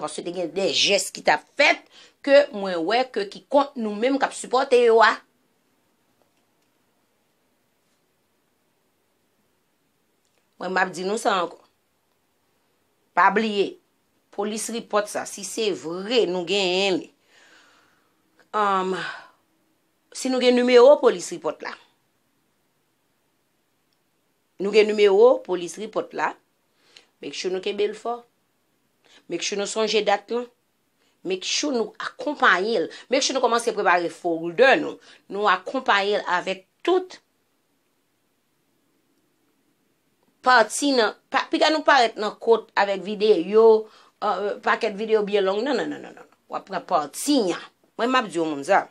paske te gen de jès ki tap fèt ke mwen wè ke ki kont nou menm kap sipòte yo a. Mwen map di nou sa ankò. Pa bliye Police report sa si se vre nou genyen li um si nou gen numéro Police report la. Nou gen numéro Police report la make sure nou kenbe l fò make sure nou sonje dat lan make sure nou akonpaye l make sure nou komanse prepare folder nou nou akonpaye l avèk tout pati nan piga nou parèt nan kot avèk videyo pakèt videyo byen long nan nan nan nan nan wap pran pati nya mwen map diyo moun sa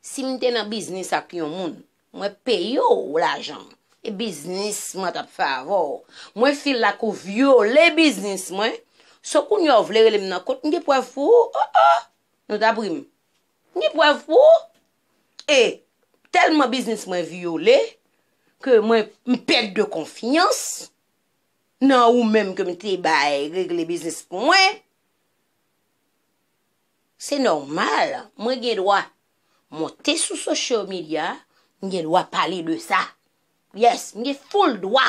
si m te nan biznis ak yon moun mwen peyo ou lajan m e biznis mwen tap fè avè w mwen fil la kou vyole biznis mwen so kounye w vle rele m nan kot m gen prèv pou ou oh oh nou tap ri m. Ni prèv pou ou? E, tèlman biznis mwen vyole, ke mwen mpèd de konfyans, nan ou menm ke mte bay regle biznis pou mwen, se nòmal, mwen gen dwa, monte sou social media, mgen dwa pale de sa. Yes, mgen full dwa,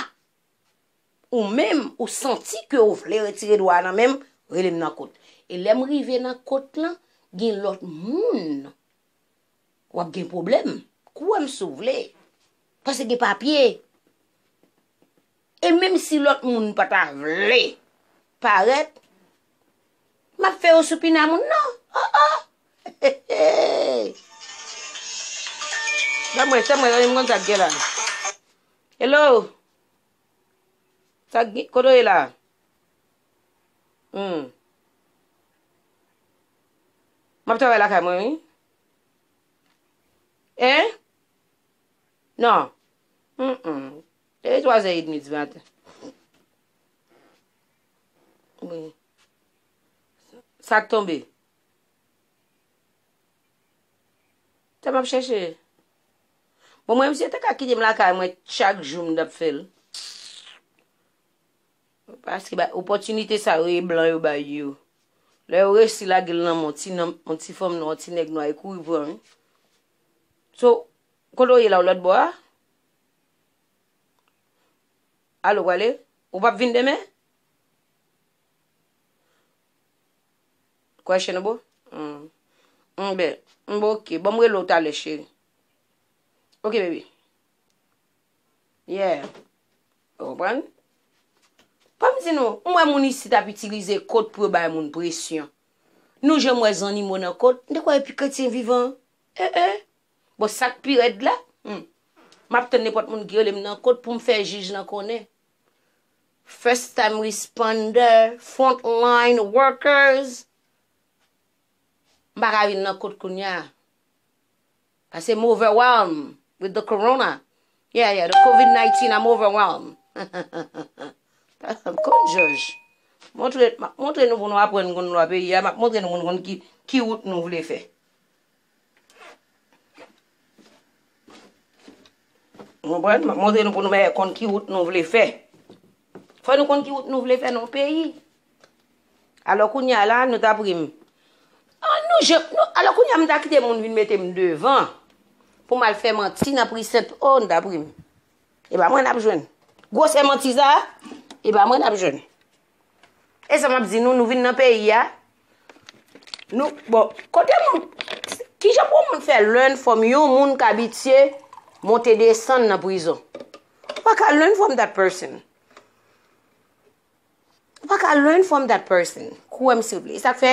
ou menm ou santi ke ou vle retire dwa a nan menm, rele m nan kot. E lè m rive nan kot lan, gen lòt moun w ap gen pwoblèm. Kwè m si w vle. Pase gen papye. E menm si lòt moun pa ta vle parèt, m ap fè yo soupina moun nan. O o! Ehehe! Ban mwen, se mwen, m konn sa k gen la. Hello Sa k gen Kote w ye la Humm M ap travay lakay mwen wi Hein Non Humm Depi 3 zè e demi di maten Wi Sa k tonbe Sa m ap chèche Bon mwen misye te ka kitem lakay mwen chak jou m tap fel. Paske bay opòtinite sa yo e blan yo bay yo. Lè yo resi lagel nan men yon ti fanm nwa yon ti nèg nwa e kouri pranl. So kote ou ye la ou lòt bò a? Alo wale? Ou pap vin demen? Questionable? Mbe, mbe ok. Bon mwen rele ou talè cheri. Ok baby. Yeah. Ou konprann? Fò m di nou, m wè moun isit ap itilize kot pou yo bay moun presyon. Nou jan m wè zannimo nan kot, m te kwè epi kretyen vivan. E e. Bon sa k pi rèd la, hum, m ap tann nenpòt moun ki rele m nan kot pou m fè jij lan konnen. First time responder, front line workers. M pa ka vin nan kot kounya. I say m overwhelm with the corona yeah yeah the covid 19 I'm overwhelm M konn jòj Montre map montre nou pou nou aprann konn lwa peyi a map montre nou pou nou konn ki wout nou vle fè. Ou konprann? M ap montre nou pou nou mèyè konn ki wout nou vle fè. Fò nou konn ki wout nou vle fè nan peyi. Alò kounye a la, nou ta pri m. An nou je, nou, alò kounye a m ta kite moun vin mete m devan pou m al fè manti nan pri senp. O, nou ta pri m. E pa mwen n ap jwenn. Gwosè manti sa a, e pa mwen n ap jwenn. E sa map di nou, nou vin nan peyi a, nou, bon, kote moun, ki jan pou moun fè learn from yon moun k abitye monte desann nan prizon? Ou pa ka learn from that person. Ou pa ka learn from that person. Kwè m silvouplè. E sa k fè,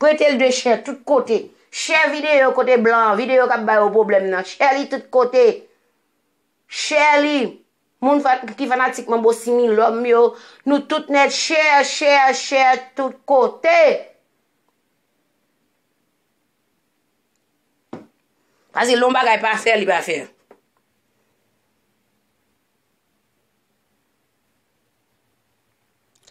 Pretel de chè tout kote. Chè video kote blan an video kap ba yo pwoblèm nan chè li tout kote chè li moun ki fanatik manbo similòm yo nou tout nèt chè chè chè tout kote paske lè yon bagay pa fè li pa fè.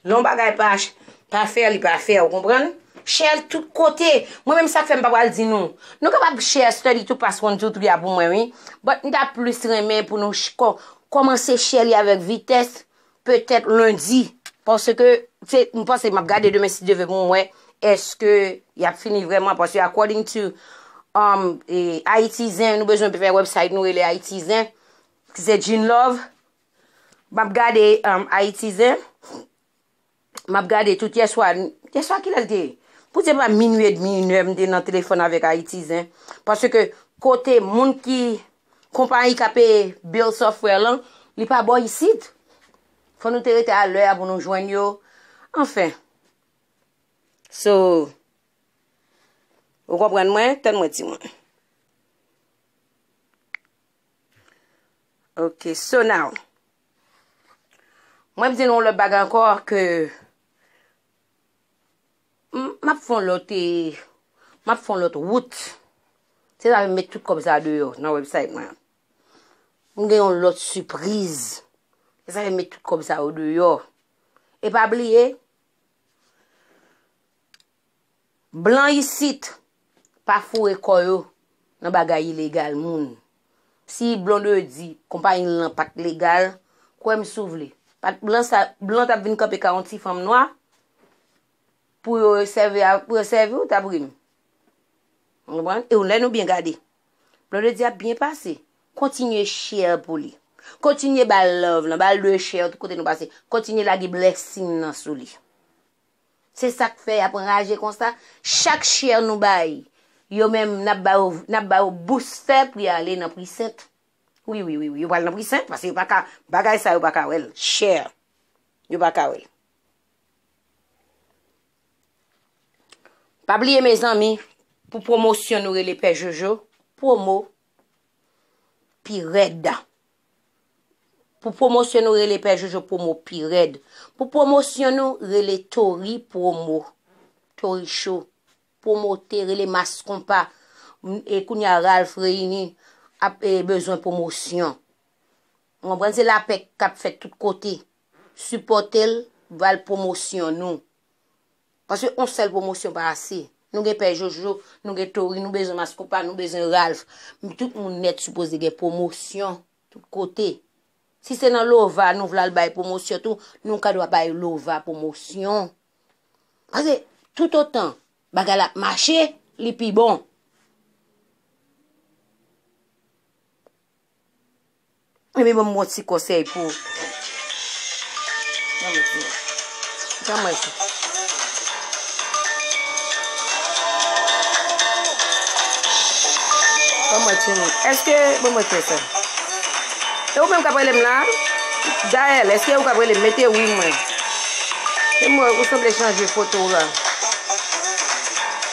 Lè yon bagay pa ach, pa fè, li pa fè, ou konprann? Chè tout kote. Mwen menm sa k fè m pa pral di nou. Nou kapab chè study to pass one two three a pou mwen wi. But m ta plis renmen pou nou ch kon, kòmanse chè li avèk vitès, petèt lendi. Paske, se, m panse m ap gade demen si Dye vle pou m wè èske y ap fini vrèman. Paske according to, um, e, Ayiti Zen, nou bezwen pou fè website nou rele Ayiti Zen. Ki se Djinlove. Map gade Haiti zen. Map gade tout yè swa. Yè swa kilè l te? Pou se pa minwi edmi inè m te nan telefon avèk Haiti zen. Pase ke kote moun ki konpayi ka peye bill software lan, li pa bò isit. Fò nou te rete a lè a pou nou jwenn yo. Anfen. So. Ou konprann mwen? Tann mwen ti mwen. Ok, so now. Mwen ap di nou lòt bagan ankò ke m ap fon lòt e m ap fon lòt wout. Se sa m met tout kòb sa deyò nan website mwen. M gen yon lòt sipriz. Se sa m met tout kòb sa deyò. E pa bliye. Blan isit pa foure kò yo nan bagay ilegal moun. Si Blondedy konpayi l lan pa t legal, kwè m si w vle, pa t blan sa, blan t ap vin kanpe ka yon ti fanm nwa pou yo sèvi avè, pou yo sèvi w, t ap ri m. Ou konprann? E w lè nou byen gade, Blondedy ap byen pase. Kontinye share pou li. Kontinye ba l love lan, ba l 2 share tout kote nou pase. Kontinye lage blessing nan sou li. Se sa k fè y ap anraje konsa, chak chè nou bay yo men m n ap ba yo n ap ba yo bous fè pou y ale nan prisent. Wi wi wi wi yo pral nan prisent paske yo pa ka bagay sa yo pa ka wè l chè yo pa ka wè l. Pa bliye mezanmi pou pwomosyon nou rele pè jojo pwomo pi rèd. Pou pwomosyon nou rele pè jojo pwomo pi rèd. Pou pwomosyon nou rele tori pwomo. Tori cho. Pwomote rele mas konpa. E kounye a Ralph reyini ap e bezwen pwomosyon. Ou konprann se lapè kap fèt tout kote. Sipòte l bal pwomosyon nou. Paske on sèl pwomosyon pa ase. Nou gen Pè Jojo, nou gen Tory, nou bezwen Mascoupa, nou bezwen Ralph. M tout moun nèt sipoze gen pwomosyon tout kote. Si se nan Lova nou vle al bay pwomosyon tou, nou ka dwa bay Lova pwomosyon. Paske toutotan bagay la ap mache, li pi bon. Epi banm bon ti konsèy pou. Eske bon mwen fè sa. E ou menm kap relem la? Gaël, eske ou kap relem? Mete oui mwen. E mwen ou sanble chanje foto ou la.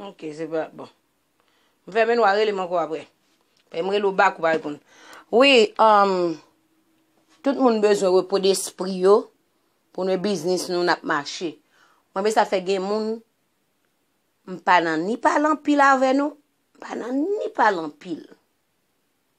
Ok se pa bon. M fè men wa rele m anko apre. Fè m rele ou bak ou pa reponn. Wi, um, tout moun bezwen repo despri yo pou nou biznis nou nap mache. Mwen be sa fè gen moun m pa nan ni palan pil avè nou, m pa nan ni palan pil.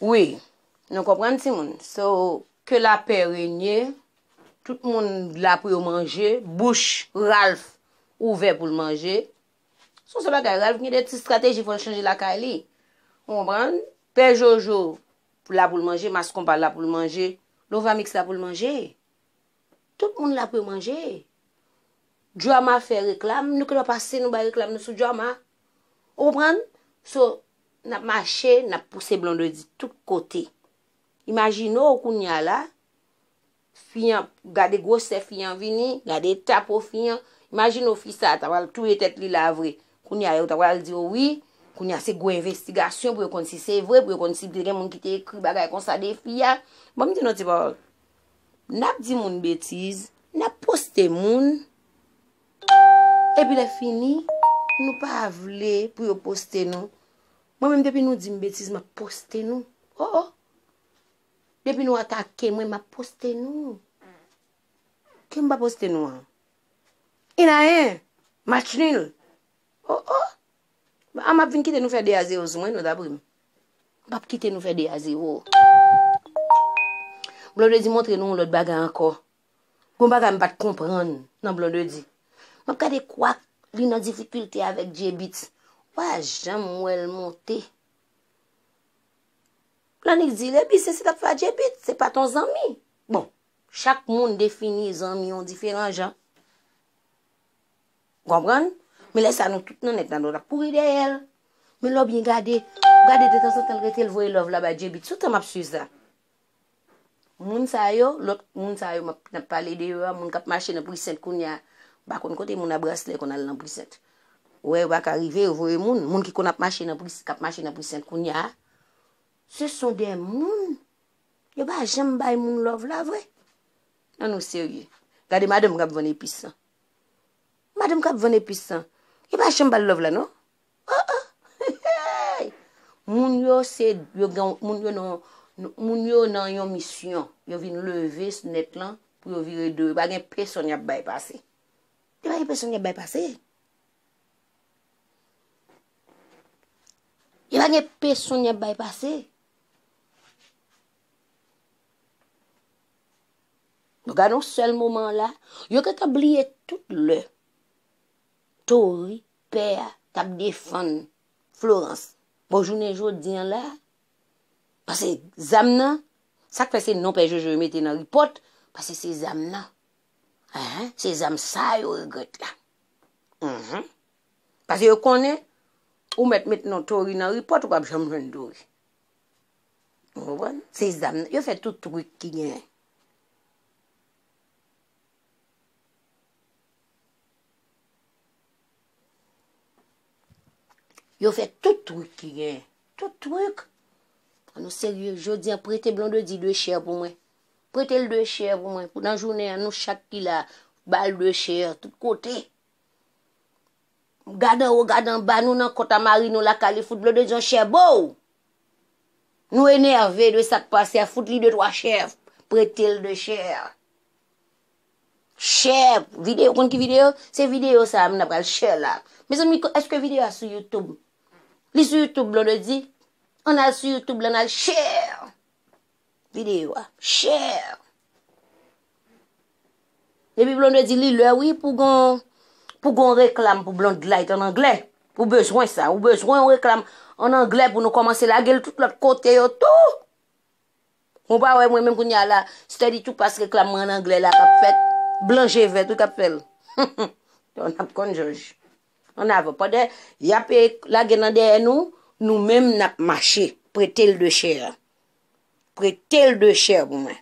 Wi Nou konprann timoun so ke la pè renye tout moun la pou yo manje bouch Ralph ouvè poul manje son sel bagay Ralph gen de ti strateji fòl chanje lakay li ou konprann pè Jojo la poul manje mas konpa la poul manje Lovamix la poul manje tout moun la pou yo manje Drama fè reklam nou ke dwa pase nou bay reklam nou sou Drama ou konprann so Nap mache, nap pouse Blondedy tout kote. Imajine w kounye a la, fi an, gade gwosè fi an vini, gade eta po fi an. Imajine w fi sa a ta pral touye tèt li la vre. Kounye a yo ta pral di w wi, kounye a se gwo envestigasyon pou yo konn si se vre, pou yo konn si te gen moun ki te ekri bagay konsa de fi a. Ban m di nou yon ti pawòl. Nap di moun betiz, nap poste moun. Epi lè fini nou pa vle pou yo poste nou Mwen menm depi nou dim betiz map poste nou Oh oh Depi nou atake mwen map poste nou Ke m pa poste nou an 1 a 1 Match nul Oh oh A map vin kite nou fè 2 a 0 sou mwen nou tap ri m M pap kite nou fè 2 a 0 Blondedy montre nou yon lòt bagay ankò Gon bagay m pat konprann nan Blondedy. Map gade kwak li nan difikilte avèk Djebeats. Ou pa janm wè l monte. Lan li di le bisnis li tap fè a Djebeats se pat yon zanmi. Bon, chak moun defini zanmi yon diferan jan. Ou konprann? Men lè sa nou tout nan nèt la nou tap kouri dèyè l. Men lè w byen gade, gade detan san tan l rete l voye love la bay Djebeats. Sou tan map swiv sa. Moun sa yo, lòt moun sa yo map nap pale de yo a, moun kap mache nan Prisent kounye a, m pa konn kote moun a braslè konn al nan Prisent. Ou wè yo pa ka rive, yo voye moun. Moun ki konn ap mache nan Prisent, kap mache nan Prisent kounye a, se son dè moun, yo pa janm bay moun love la vre. An nou serye. Gade madanm kap vann epis lan. Madanm kap vann epis lan, yo pa janm bal love la non. Oh oh hey moun yo se yo gen moun yo nan moun yo nan yon misyon yo vin leve sou nèt lan pou yo vire do yo pa gen pesonn yap bay pase yo pa gen pesonn yap bay pase yo pa gen pesonn yap bay pase nou gadon sèl moman la yo gentan bliye tout lè Tory pè a tap defann Florence bon jounen jodi an la pase zam nan sak fè se non pè jojo yo mete nan ripòt pase se zam nan eeh se zam sa yo regrèt la eeh pase yo konnen ou mèt met non Tory nan ripòt ou pap janm jwenn Tory ou konprann se zam nan yo fè tout trik ki genyen. Yo fè tout truk ki gen. Tout truk. An nou serye. Jodi an prete blondedi de chè pou mwen. Prete l de chè pou mwen. Pou nan jounen an nou chak ki la. Bal de chè. Tout kote. Gadan ou gadan ba nou nan kota mari nou la kale fout blondedi yon chè bou. Nou enerve de sak pase a fout li de twa chè. Prete l de chè. Share video konn ki video se video sa a moun ap pral share la mezanmi eske video a sou YouTube li sou YouTube blondedy an al sou YouTube la nal share video a share epi blondedy li lè wi pou gon pou gon reklam pou blondlight an anglè ou bezwen sa ou bezwen yon reklam an anglè pou nou komanse lagel tout lòt kote yo tou Ou pa wè mwen menm kounye a la, stèdi tou pas reklam mwen an anglè la k ap fèt, blan je vèt wi k ap fè l. Donk n ap konn jòj. Ann avan, pandan y ap lage nan dèyè nou, nou menm n ap mache. Prete l de chè. Prete l de chè pou mwen.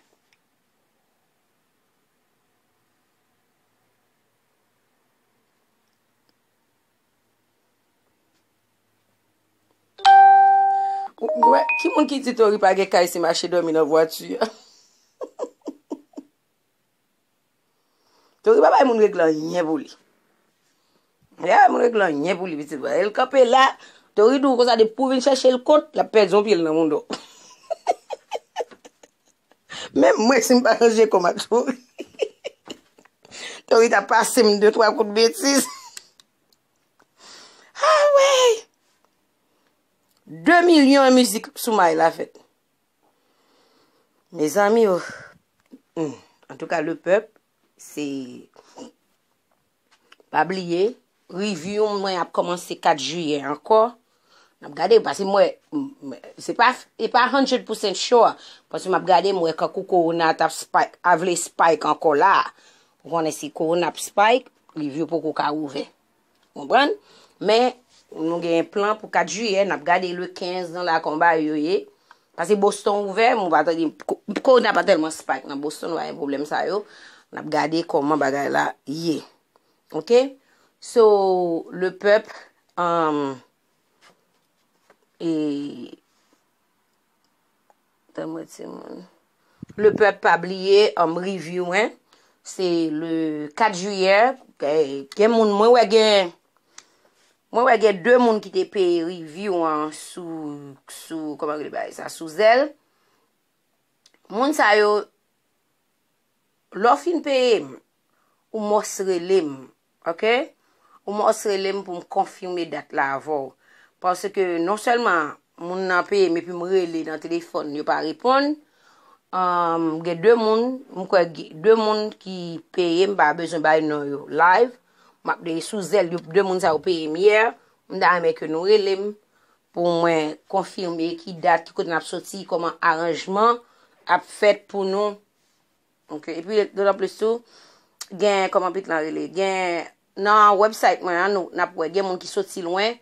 Ki moun ki di tori pa gen kay se mache domi nan vwati ya. Tori pa bay moun règle anyen pou li. Li pa bay moun règle anyen pou li pitit mwen. El kanpe la, tori di w konsa depi pou vin chèche l kont, l ap pèdi yon pye l nan moun do. Menm mwen si m pa ranje kò m ak tori. Tori ta pase m de twa kout betiz. Haa wey! De milyon mizik sou may la fèt. Mezanmi yo. Oh, an tou ka le pèp, se, pa bliye, review mwen ap kòmanse 4 jiyè ankò. Map gade paske mwen se pa e pa 100 percent sure paske map gade mwen kankou corona tap spike a vle spike anko la ou konnen si corona ap spike liv yo poko ka ouvè konprann men nou gen yon plan pou 4 juillet nap gade le 15 nan la konba yo ye paske Boston ouvè mwen pa tande corona pa telman spike nan Boston wè yon problem sa yo nap gade koman bagay la ye. ok so le pèp um, e tan mwen ti moun le pèp pa bliye um, review hein se le 4 juyè gen moun mwen wè gen mwen wè gen 2 moun ki te peye review an sou sou koman li bay sa sou zèl moun sa yo Lè w fin peye m, ou mòs rele m, ok? Ou mòs rele m pou m konfime dat la avè w. Paske non sèlman moun nan peye m epi m rele nan telefòn yo pa reponn, m gen 2 moun, m kwè 2 moun ki peye m, m pa bezwen bay non yo live, m ap de sou zèl yo, 2 moun sa yo peye m yè, m ta renmen ke nou rele m pou mwen konfime ki dat, ki kote n ap soti, kòman aranjman ap fèt pou nou Ok, epi dotan plis tou, gen koman pit lan rele, gen nan website mwen an nou nap wè gen moun ki soti lwen,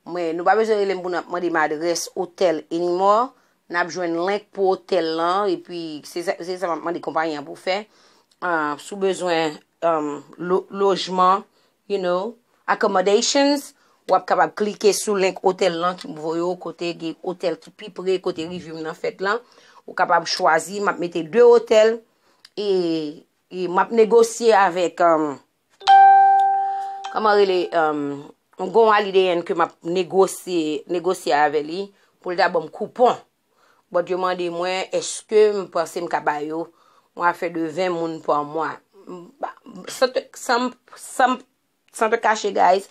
mwen nou pa bezwen rele m pou nap mande m adrès otèl anymore, nap jwenn link pou otèl lan epi se se map mande konpayi an pou fè, sou bezwen lojman You know, accommodations, ou ap kapab klike sou link hotel lan ki m voye w kote gen hotel ki pi pre kote review m nan fèt lan. Ou kapab chwazi, m ap mete 2 hotel e e m ap negosye avèk um, kòman rele um, m gon Holiday Inn ke m ap negosye negosye avè li pou l ta ban m koupon. But yo mande mwen eske m panse m ka ba yo yon afè de 20 moun pa mwa. San te kache guys,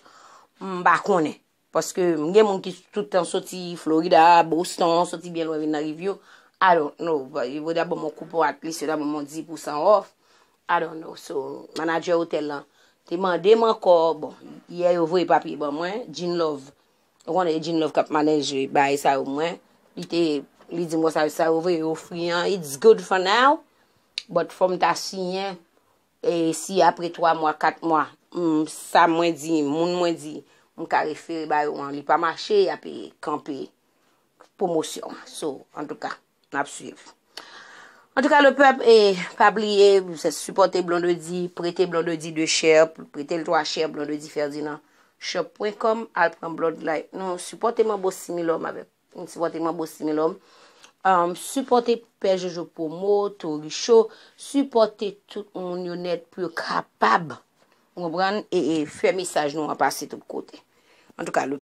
m pa konnen. Paske m gen moun ki tout tan soti Florida, Boston, soti byen lwen vin nan Rivyou. I don't know. Yo pou ta ban m yon koupon at least yo ta ban m yon 10 pou san off. I don't know. So, manager hotel lan te mande m ankò. Bon, yè yo voye papye ban mwen. Jean Love. Ou konnen e Djinlove kap maneje baay sa yo mwen. Li te, li di mwen sa, sa yo vle ofri an, it's good for now, but fòm ta siyen, e si apre 3 mwa, 4 mwa, m, sa mwen di, moun mwen di, m ka refere ba yo an, li pa mache, y ape kanpe pwomosyon an. So, antouka. Nap swiv. Antouka le pèp e pa bliye sipòte Blondedy, prete Blondedy 2 chè, prete l 3 chè Blondedy Ferdinand shop pwen kòm al pran blond like nou sipòte manbo similòm avèk sipòte manbo similòm sipòte pè jojo promo Tori show sipòte tout moun yo nèt pou yo kapab ou konprann e fè mesaj nou an pase tout kote antouka le.